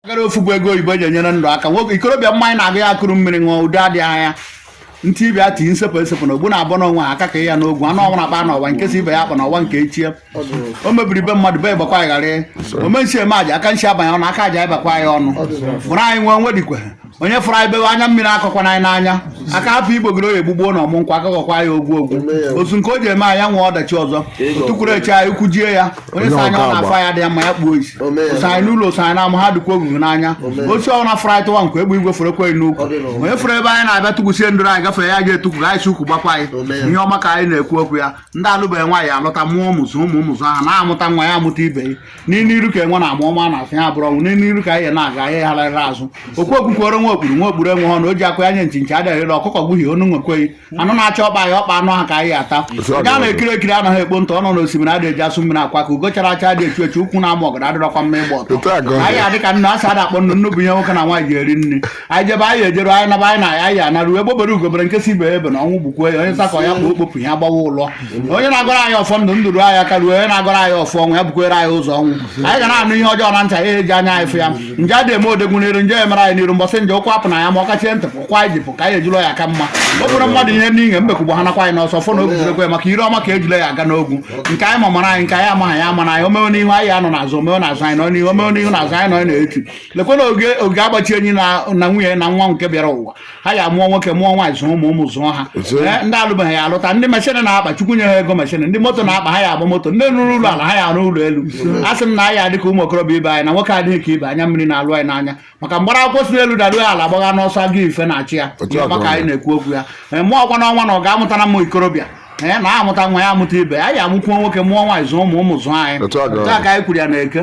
gara ofu bụ ego oyibo eji enyere ndụ aka nwoke ikorobịa mmanya na-agụ ya ekuru mmiri ṅụọ udo adịghị anya ntị ibe ya tinye nsepụ esepụ na ogbu na-abụ n'onwe ha aka ka ya n'ogwu anụ ọnwụ na-akpa n'ọwa nke si ibe ya akpa n'ọwa nke echie o mebiri be mmadụ be ya gbakwa aghara ome nsi ome aja aka nsi abanye ọnụ aka aja ịbakwa ya ọnụ bụrụ anyị nwee nwedikwe onye fụrụ anyị bewe anya mmiri akọkwana ya n'anya aka hapụ igbogoro ya egbugbo na ọmụ nkwa akọkọkwa ya ogwu ogwu otu nke o ji eme anya nwee ọdachi ụzọ tukwuru eche anyị ukwu jie ya onye sa anya ọ na-afụ ya dị ya mma ya kpuo isi osa anyị n'ụlọ osa anyị n'ama ha dịkwa ogwugwu n'anya osi ọ na fụrụ anyị tụwa nkwa egbe igwe fụrụ ekweghị n'ukwu onye fụrụ ebe anyị na-abịa tụkwusie ndụrụ anyị gafee ya ga etukwu anyị si ukwu gbakwa anyị ihe ọma ka anyị na-ekwu okwu ya ndị alụbeghị nwaanyị alụta mụọ ụmụ zụọ ụmụ ụmụ zụọ ha na-amụta nwa ya amụta ibe ya n'iru n'iru ka enwe na-ama ọ maa n'azụ ya abụrụ ọnwụ n'iru n'iru ka anyị na-aga anyị hararị azụ okwu okwukwere nwa okpuru nwa okpuru enwe ọnụ o ji akụ ya nye nchi nchi adịghị ere ọkụkọ gbuhie ọnụ nwekweghị anụ na-achọ ọkpa anyị ọkpa anụ ha ka anyị ata ndị a na-ekiri ekiri anaghị ekpo ntụ ọnọ n'osimiri adịghị eji asụ mmiri akwọ aka ugo chara acha adị echu echu ukwu na-ama ọgọdọ adịrọkwa mma ịgba ọtọ Otu a ka ọ dị. anyị adị ka nnu asị ada akpọ nnu nnu bụ ihe nwoke na nwaanyị ji eri nri anyị jebe anyị ejeru anyị naba anyị na anyị anaru egbe bere ugo bere nke si ibe ebena ọnwụ gbukwe ya onye sakọ ya bụ okpopụ ya gbawa ụlọ onye na-agọrọ anyị ọfọ ndụ ndụ ruo anyị aka ruo onye na-agọrọ anyị ọfọ ọnwụ ya bukwere anyị ụzọ nwụọ anyị ga na-anụ ihe ọjọọ na nchị ya eji anya anyị fụ ya nje adị eme odogwu n'iru nje emere anyị n'iru mbọsị nje ụkwụ apụ na ya ma ọ kachie ntị pụkwa anyị jipụ ka anyị ejilo ya aka mma o buru mmadụ ihe n'inye mbekwugbo ha nakwa anyị n'ọsọ fọ na oguzirekwe maka ire ọma ka ejile ji aga n'ogwu nke anyị ma mara anyị nke anyị amaghị ya amana anyị o mewe n'ihu anyị anọ n'azụ o mewe n'azụ anyị nọ n'ihu o mewe n'ihu n'azụ anyị nọ n'etu lekwana ogige agbachi anyị na na nwunye na nwa nke bịara ụwa ha ya mụọ nwoke mụọ nwaanyị zụọ ụmụ ụmụ zụọ ha Zụọ. Ee, ndị alụbeghị ya alụta ndị machine na-akpa chukwu nye ha ego machine ndị moto na-akpa ha ya agba moto ndị rụrụ ụlọ ala ha ya arụ ụlọ elu a sị m na anyị adị ka ụmụ okorobịa ibe anyị na nwoke adịghị ka ibe anya mmiri na-alụ anyị n'anya maka mgbara akwụkwọ si n'elu daruo ya ala gbagha n'ọsọ aga ife na-achụ ya Otu a ka maka ọ anyị dị. na-ekwu okwu ya Ee, mụọ ọkwa n'ọnwa na ọ ga-amụtara m ikorobịa ee na amụta nwa ya amụta ibe anyị amụkwuo nwoke mụọ nwaanyị zụọ ụmụ ụmụ zụọ anyị Otu a ka ọ Otu a dị. ka anyị kwuru ya na eke